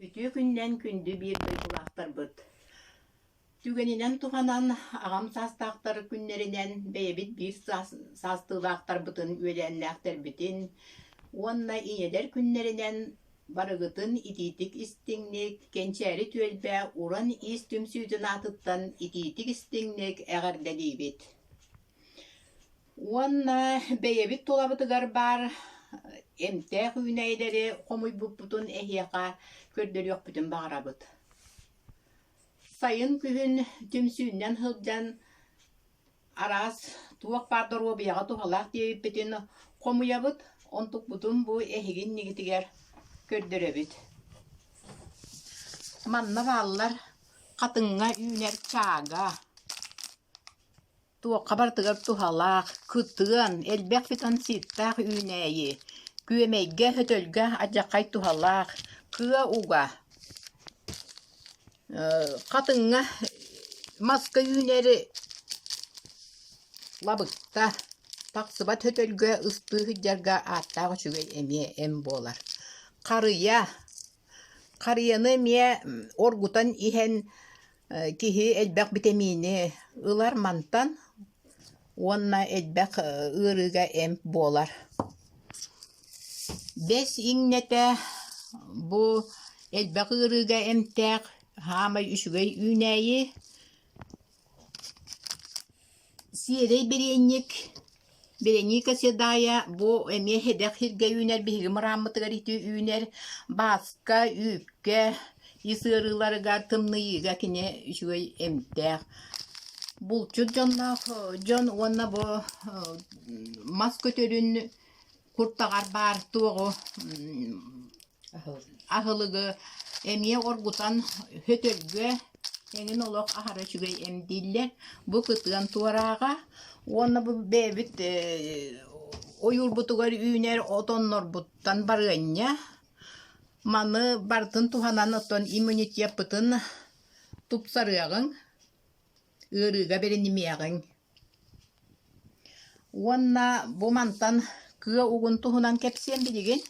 Үтүө күнүнэн күндү биир дойгулаахтарбыт! Түгэнинэн туһанан, аҕам саастаахтар күннэринэн бэйэбит биир саас- саастыылаахтарбытын үөлээннээхтэрбитин уонна ийэлэр күннэринэн барыгытын итиитик истиҥник, кэнчээри түөлбэ уран иис түмсүүтүн аатыттан итиитик истиҥник эҕэрдэлиибит! Уонна бэйэбит тулабытыгар баар эмтээх үүнээйилэри хомуйбуппутун эһиэхэ көрдөрүөхпүтүн баҕарабыт. Сайын күһүн түмсүүннэн сылдьан араас туох баар доруобуйаҕа туһалаах диэбиппитин хомуйабыт, онтукпутун бу эһигин иннигитигэр көрдөрөбүт. Манна бааллар хатыҥҥа үүнэр чаага. Туохха барытыгар туһалаах, кытыан, элбэх фитонситтаах үүнээйи, күөмэйгэ, өтөлгө адьаххай туһалаах, кыа уга, хатыҥҥа маска үүнээри лабыкта, тахсыбат өтөлгө ыстыы сылдьарга ааттаах үчүгэй эмиэ эм буолар. Харыйа, харыйаны эмиэ оргутан иһэн Киһи элбэх битэмиини ылар мантан уонна элбэх ыарыыга эмп буолар. Бэс иҥнэтэ бу элбэх ыарыыга эмтээх, саамай үчүгэй үүнээйи. Сиэрэй бириэнньик Береника Седая бу эмиэ хэдэх сиргэ үүнэр биһиги мырааммытыгар ити үүнэр бааска, үүккэ ис ыарыыларыгар тымныйыыга кини үчүгэй эмтээх булчут дьонноох дьон уонна бу мас көтөрүн куртаҕар баар туоҕу Аһылыгы эмиэ оргутан өтөргө эҥин олох аһара үчүгэй эмдииллэр. Бу кытыан туорааҕа уонна бу бэйэбит ойуурбутугар үүнэр отоннорбуттан барыанньа. Маны барытын туһанан оттон иммунитеппытын тупсарыаҕыҥ, ыарыыга бэринимиэҕиҥ. Уонна бу мантан кыа угун туһунан кэпсиэм билигин.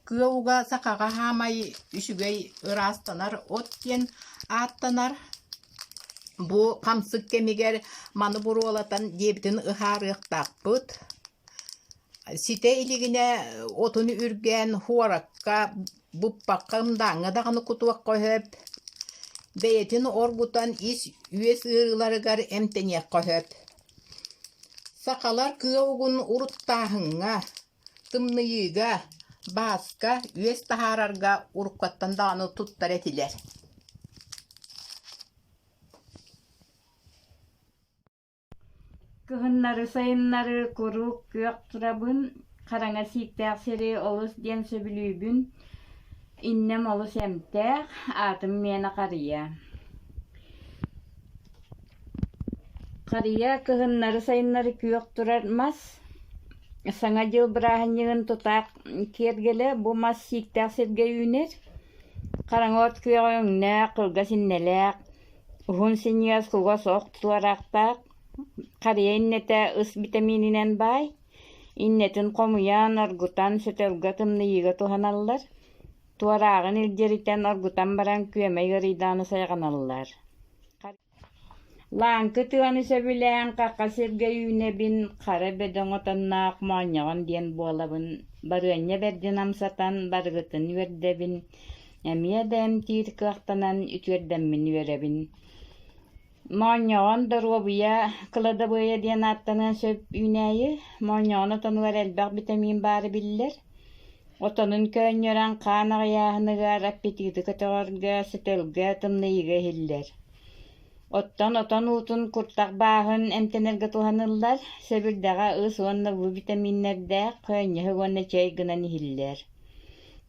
Кыа уга сахаҕа хаамай үчүгэй ыраастанар от диэн ааттанар. Бу хамсык кэмигэр маны буруолатан диэбитин ыһаарыахтаахпыт. Ситэ илигинэ отуну үргээн хуоракка буппакка ымдааҥҥа даҕаны кутуохха сөп. Бэйэтин оргутан ис үөс ыарыыларыгар эмтэниэххэ сөп. Сахалар кыа угун уруттааһыҥҥа, тымныйыыга, бааска, үөс таһаарарга уруккаттан даҕаны туттар этилэр Кыһыннары-сайыннары куруук күөх турабын, хараҥа сииктээх сири олус диэн сөбүлүүбүн, иннэм олус эмтээх, аатым миэнэ харыйа. Харыйа кыһыннары-сайыннары күөх турар мас, Саҥа дьыл бырааһынньыгын тутаах киэргэлэ бу мас сииктээх сиргэ үүнэр. Хараҥа от күөҕэ өҥнөөх, кылгас иннэлээх. Уһун синньигэс куга суох тулараахтаах харыйа иннэтэ ыс битэмиининэн баай, иннэтин хомуйан, оргутан, сөтөлгө тымныйыыга туһаналлар. Туорааҕын илдьиритэн оргутан баран күөмэй ыарыйдаҕына сайҕаналлар. Лааҥкы тыаны сөбүлээн хахха сиргэ үүнэбин, хара бөдөҥ отонноох моонньоҕон диэн буолабын. Барыанньа бэрдин амсатан, барыгытын үөрдэбин Эмиэ да эмтиир кыахтанан үтүөрдэммин үөрэбин моонньоҕон доруобуйа кладобоя диэн ааттаныан сөп үүнээйи моонньоҕон отонугар элбэх битэмиин баара биллэр отонун көөнньөрөн хаан аҕыйааһыныгар аппетиты көтөҕөргө сөтөлгө тымныйыыга иһиллэр оттон отон уутун куртах бааһын эмтэнэргэ туһаныллар сэбирдэҕэ ыс уонна уу битэмииннэрдээх көөнньөһүк уонна чэй гынан иһиллэр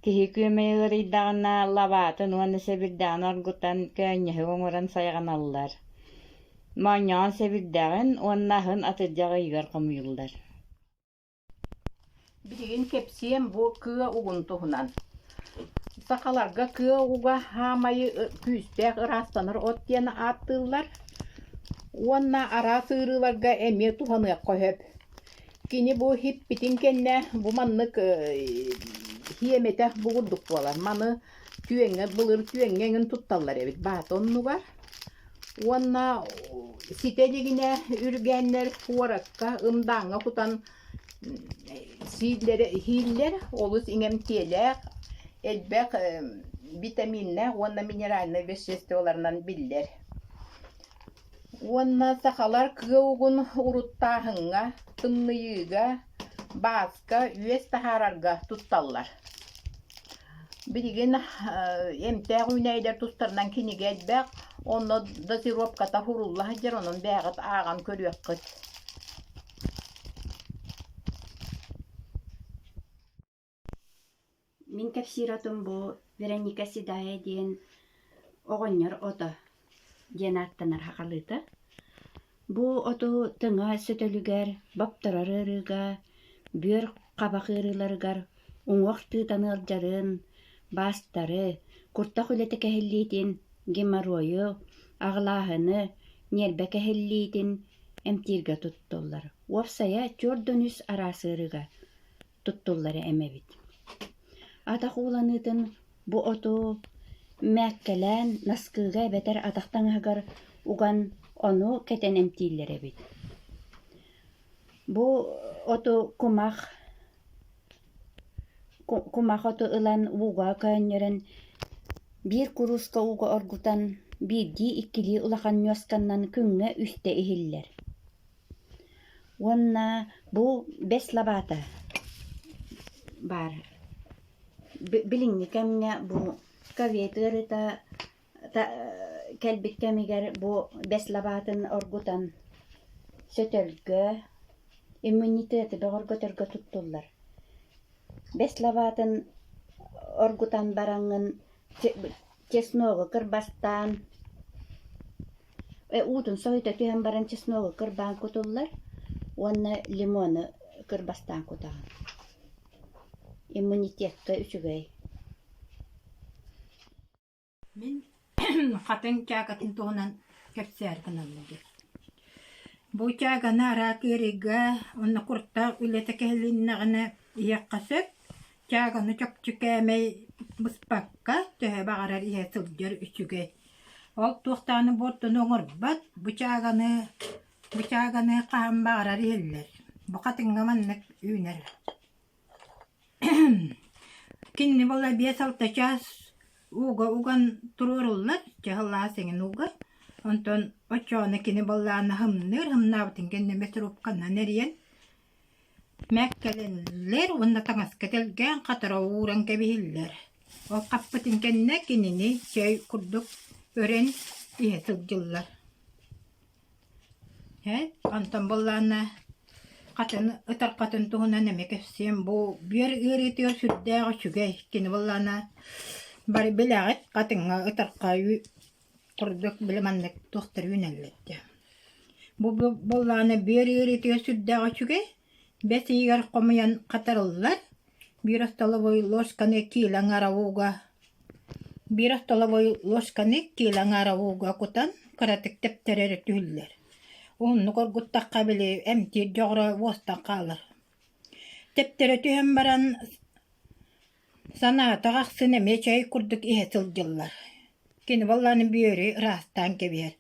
Киһи күөмэйэ ыарыйдаҕына, лабаатын уонна сэбирдэҕин оргутан, көөнньөһүк оҥорон сайҕаналлар. Моонньоҕон сэбирдэҕин уонна аһын атырдьах ыйыгар хомуйуллар Билигин кэпсиэм бу кыа угун туһунан. Сахаларга кыа уга хаамайы күүстээх ыраастанар от диэн ааттыыллар уонна араас ыарыыларга эмиэ туһаныахха сөп. Кини бу иһиппитин кэннэ бу маннык иэмэтэх бу курдук буолар. Маны түөҥҥэ былыр түөҥҥэ эҥин тутталлар эбит баата оннугар. Уонна ситэ илигинэ үргээннэр куоракка, ымдааҥҥа кутан сииллэрэ иһииллэр. Олус иҥэмтиэлээх, элбэх витаминнаах уонна минеральнай веществоларынан биллэр. уонна сахалар кыа угун уруттааһыҥҥа, тымныйыыга, бааска, үөс таһаарарга тутталлар. Билигин эмтээх үүнээйилэр тустарынан кинигэ элбэх, онно датировката сурулла сылдьар, онон бэйэҕит ааҕан көрүөххүт. Мин кэпсиир-отум бу «Вероника седая» диэн оҕонньор ото диэн ааттанар хахалыыта. Бу оту тэҥэ сөтөлүгэр, бопторор ыарыыга, бүөр хабах ыарыыларыгар уҥуох тыытан ыалдьарын, баастары, куртах үлэтэ кэһиллиитин, геморройу, аҕылааһыны, ньиэрбэ кэһиллиитин эмтииргэ туттуллар. Уопсайа, түөрт да үс араас ыарыыга. туттуллара эмэбит атах ууланыытын бу оту мээккэлээн наскыыга эбэтэр атах таҥаһыгар уган ону кэтэн эмтииллэр эбит бу оту кумах кумах оту ылан ууга көөнньөрөн биир курууска ууга оргутан биирдии иккилии улахан ньуосканнан күҥҥэ үстэ иһиллэр Уонна бу бэс лабаата баар. Билиҥҥи кэмҥэ бу ковид ыарыыта кэлбит кэмигэр бу бэс лабаатын оргутан сөтөлгө, иммунитеты бөҕөргөтөргө туттуллар. Бэс лабаатын оргутан бараҥҥын чесногу кырбастаан уутун соһута түһэн баран чесногу кырбаан кутуллар уонна лимону кырбастаан кутаҕын. Иммунитетка үчүгэй. Мин хатыҥ чаакатын туһунан кэпсээр гыналларым. Бу чааганы араак ыарыыга уонна куртаах үлэтэ кэһилиннэҕинэ ийэххэ сөп, Чааганы чопчу кээмэй быспакка төһө баҕарар иһэ сылдьар үчүгэй. Ол туох даҕаны буортуну оҥорбот, бу чааганы, бу чааганы хаһан баҕарар иһиллэр. Букатыҥҥа маннык үүнэр. Кинини була биэс алта чаас ууга уган туруоруллар, чаһыллаах сиҥин ууга. Онтон оччоҕуна кини баллааны һымныыр, һымнаабытын кэннэ мэтирупканан эрийэн Мэккэлэнэллэр уонна таҥаска тэлгээн хатара ууран кэбиһиллэр. Ол хаппытын кэннэ кинини чэй курдук өрөн иһэ сылдьыллар. Ээ, онтон буоллаҕына хатаны ытарҕатын туһунан эмиэ кэпсиэм. Бу бүөр ыарыытыгар сүрдээх үчүгэй. Кини буоллаҕына бары билэҕит хатыҥҥа ытарҕа Курдук били маннык туохтарый үүнэллэр Бу буоллаҕына бүөр ыарыытыгар сүрдээх үчүгэй. Бэс ыйыгар хомуйан хатарыллар. Биир остолобуой ложканы киилэ аҥааравыга биир остолобуой ложканы киилэ аҥааравыга кутан кыратык тэптэрэр түһүллэр. Уһуннук оргуттахха били эмтиир дьоҕура буостан хаалар. Тэптэрэ түһэн баран Санаата ахсын эмиэ чэй курдук иһэ сылдьыллар. Кини баллааны бүөрү ыраастаан кэбиһэр.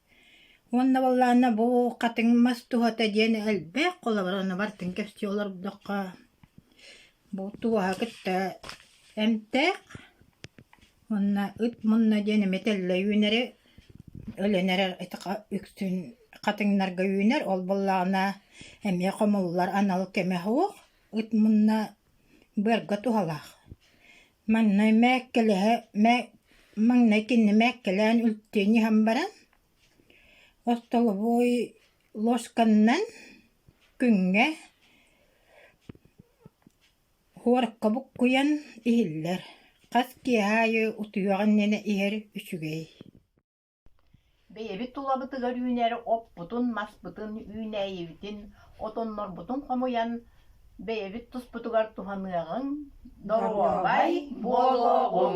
Уонна баллаана бу хатыҥ мас туһата диэн элбэх холобур ону барытын кэпсии олордоххо бу туоһа кытта эмтээх уонна ыт мунна диэн эмиэ тэллэ үүнэри өлөн эрэр итиха үксүн хатыҥнарга үүнэр ол буоллаҕына эмиэ хомуллар анал кэмэ суох ыт мунна Быарга туһалаах. Маҥнай мээккэлэһэ, мээ- маҥнай кинини мээккэлээн үлтүөн иһэн баран, остолобуой лосканынан күҥҥэ хворукка буккуйан иһиллэр. Хас киэһэ аайы утуйуох иннинэ иһэр үчүгэй Бэйэбит тулабытыгар үүнэр оппутун-маспытын үүнээйибитин, отоннорбутун хомуйан, бэйэбит туспутугар туһаныаҕыҥ, доруобай буолуоҕуҥ!